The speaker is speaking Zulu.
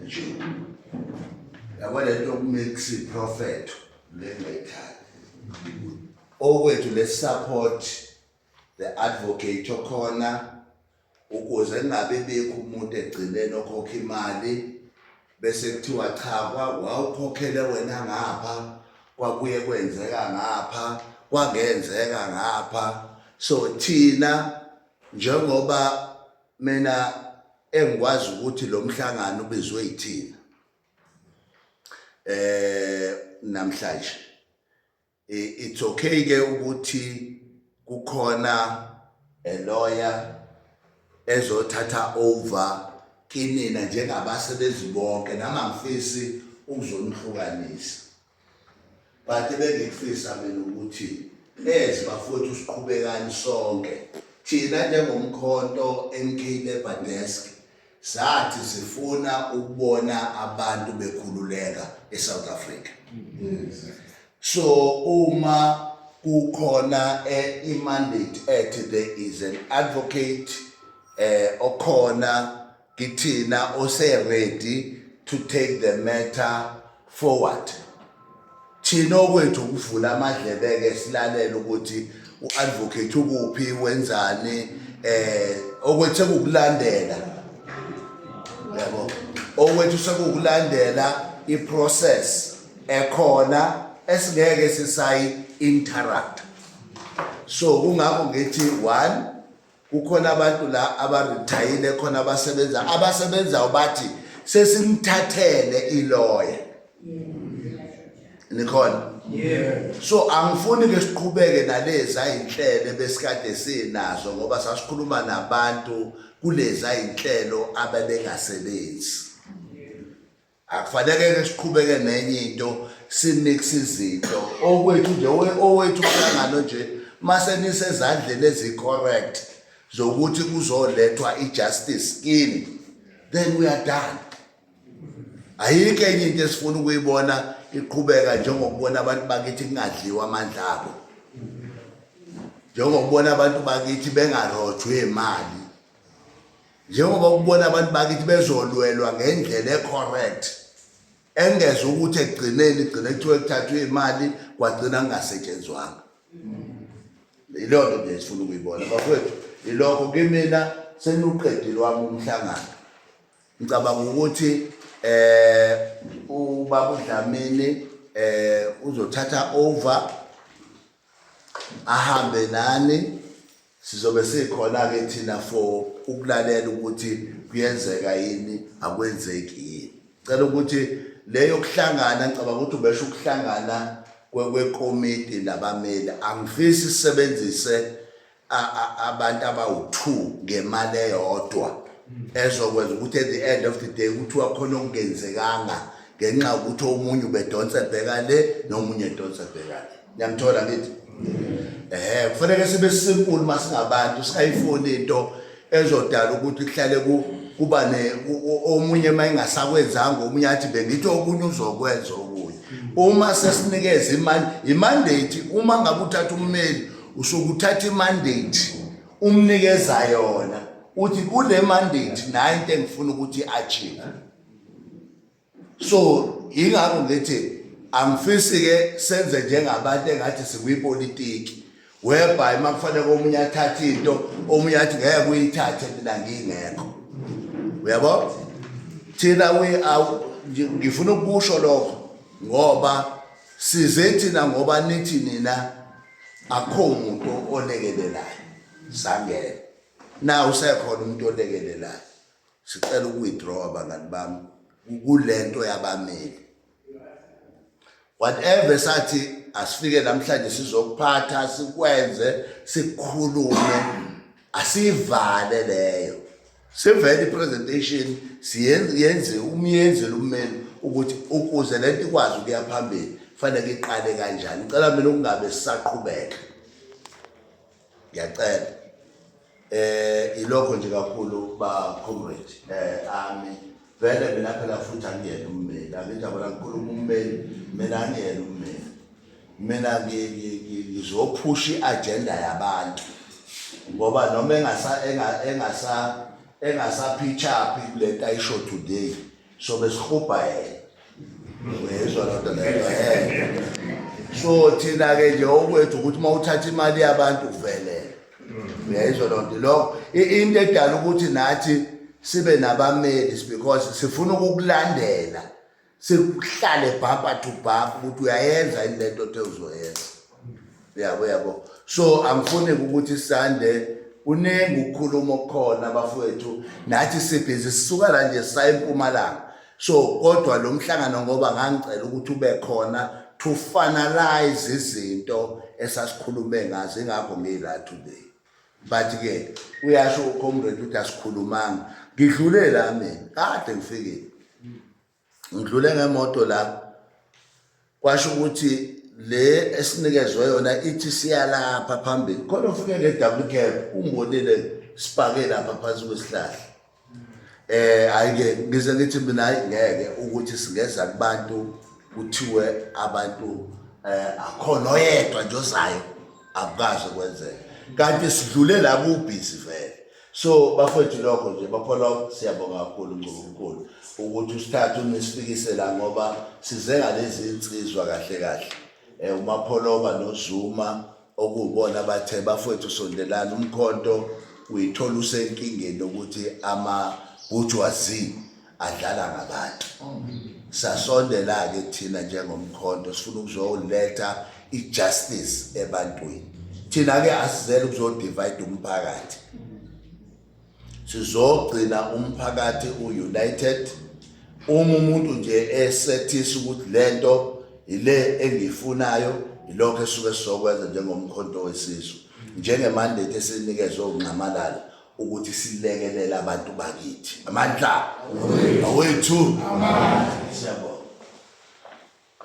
nje yabo le nto kumix iprofetho lengayithandi okwethu le support the advocate okhona ukuze kungabe bekho umuntu egcineni okhokha imali bese kuthiwa cha wawukhokhele wena ngapha kwakuye kwenzeka ngapha kwangenzeka ngapha so thina njengoba mina engikwazi ukuthi lo mhlangano ubizwe yithina eh namhlanje it's okay ke ukuthi kukhona a lawyer ezothatha over kinina njengabasebenzi bonke nama ngifisi ukuzonihlukanisa but ebengikufisa mina ukuthi ezi bafowethu siqhubekani sonke thina njengomkhonto MK Labour Desk sathi sifuna ukubona abantu bekhululeka eSouth Africa so uma kukhona eh, imandate ethi there is an advocate eh okhona Kithina ose ready to take the matter forward. Thina okwethu ukuvula amadlebe ke silalela ukuthi uadvocate ukuphi wenzani eh okwethe kukulandela yabo okwethu sekukulandela iprocess ekhona esingeke sisayi interrupt so kungakho ngithi one kukhona abantu la abarithayile khona abasebenza abasebenzayo bathi sesimthathele iloya nikhona so angifuni ke siqhubeke nalezi ayinhlelo besikade sinazo ngoba sasikhuluma nabantu kulezi ayinhlelo abebengasebenzi akufaneleke siqhubeke nenye into simix izinto okwethu nje owethu umhlangano nje mase nisezandleni ezi-correct zokuthi kuzolethwa i-justice kini then we are done ayikho enye into esifuna ukuyibona iqhubeka njengokubona abantu bakithi kungadliwa amandla abo njengokubona abantu bakithi bengarojwe imali njengoba ukubona abantu bakithi bezolwelwa ngendlela ecorrect engeze ukuthi ekugcineni igcine kuthiwa kuthathwa imali kwagcina kungasetshenzwanga yileyo nto nje esifuna ukuyibona bafowethu yilokho kimina senuqedile wami umhlangano ngicabanga ukuthi eh ubaba uDlamini eh uzothatha over ahambe nani sizobe sikhona ke thina for ukulalela ukuthi kuyenzeka yini akwenzeki yini cela ukuthi leyo kuhlangana ngicabanga ukuthi ubesho ukuhlangana kwekomiti labameli angifisi sisebenzise abantu abawu-two ngemali eyodwa hmm. ezokwenza ukuthi at the end of the day kuthiwa khona okungenzekanga ngenxa yokuthi omunye ubedonsa ebheka le nomunye edonsa ebheka le niyamthola ngithi um kufanele sibe simple uma singabantu singayifuni into ezodala ukuthi kuhlale kuba omunye uma engasakwenzanga omunye athi bengithi okunye uzokwenza okunye uma sesinikeza imali imandate uma ngabe uthatha ummeli usuke uthatha imandate umnikeza yona uthi kule mandate nayo into engifuna ukuthi i-achieve so yingakho ngithi angifisi ke senze njengabantu engathi sikwipolitiki whereby uma kufanele komunye athathe into omunye athi ngeke uyithathe mina ngingekho uyabo thina we ngifuna ukusho lokho ngoba size thina ngoba nithi nina akho umuntu olekelelayo sangena na usekhona umuntu olekelelayo Sicela uku-withdrawa bangani bami kulento yabameli. Whatever sathi asifike namhlanje sizokuphatha sikwenze sikhulume asivale leyo. Sivele i-presentation siyenze umyenzele ummeli ukuthi ukuze lento ikwazi ukuya phambili fanele iqale kanjani. Ngicela mina ukungabe sisaqhubeka. ngiyacela eh ilokho nje kakhulu ba comrade eh ami vele mina phela futhi angiyena ummeli angijabula kakhulu ummeli mina angiyena ummeli mina ngizophusha i-agenda yabantu ngoba noma engasa engasa engasaphichaphi kule nto ayisho today so besihubha yena uyezwa lodwa leyo so thina ke nje okwethu ukuthi uma uthatha imali yabantu uvelele uyayizwa loo nto lokho into edala ukuthi nathi sibe nabameli because sifuna ukukulandela sikuhlale bhampa to bhampa ukuthi uyayenza yini le nto othe uzoyenza yabo yabo so angifuni ukuthi sande uningi ukukhuluma okukhona bafowethu nathi sibhizi sisuka la nje sayimpumalanga so kodwa lo mhlangano ngoba ngangicela ukuthi ube khona to finalize izinto esasikhulume ngazo ingakho ngila today but ke uyasho ucomrade ukuthi asikhulumanga ngidlule la mina kade ngifikile ngidlule ngemoto la kwasho ukuthi le esinikezwe yona ithi siyalapha phambili khona ufike nge-double cab umbonile sipake lapha phansi kwesihlahla eh ayike ngize ngithi mina hayi ngeke ukuthi singeza kubantu kuthiwe abantu eh akhona oyedwa nje ozayo akukaze kwenzeke kanti sidlule la kubhizi vele so bafethu lokho nje baphola siyabonga kakhulu ngomkhulu ukuthi usithathe unisifikisela ngoba size ngalezi insizwa kahle kahle eh umapholoba nozuma okubona bathe bafethu sondelana umkhonto uyithola usenkingeni ukuthi ama bujwazi adlala ngabantu sasondela-ke thina njengomkhonto sifuna ukuzoletha i-justice ebantwini thina-ke asizele ukuzodivide umphakathi sizogcina umphakathi u-united uma umuntu nje esethisa ukuthi le nto yile engiyifunayo yilokho esuke sizokwenza njengomkhonto wesizwe njengemandate esinikezwe unxamalala ukuthi silekelele abantu bakithi amandla awethu amandla siyabonga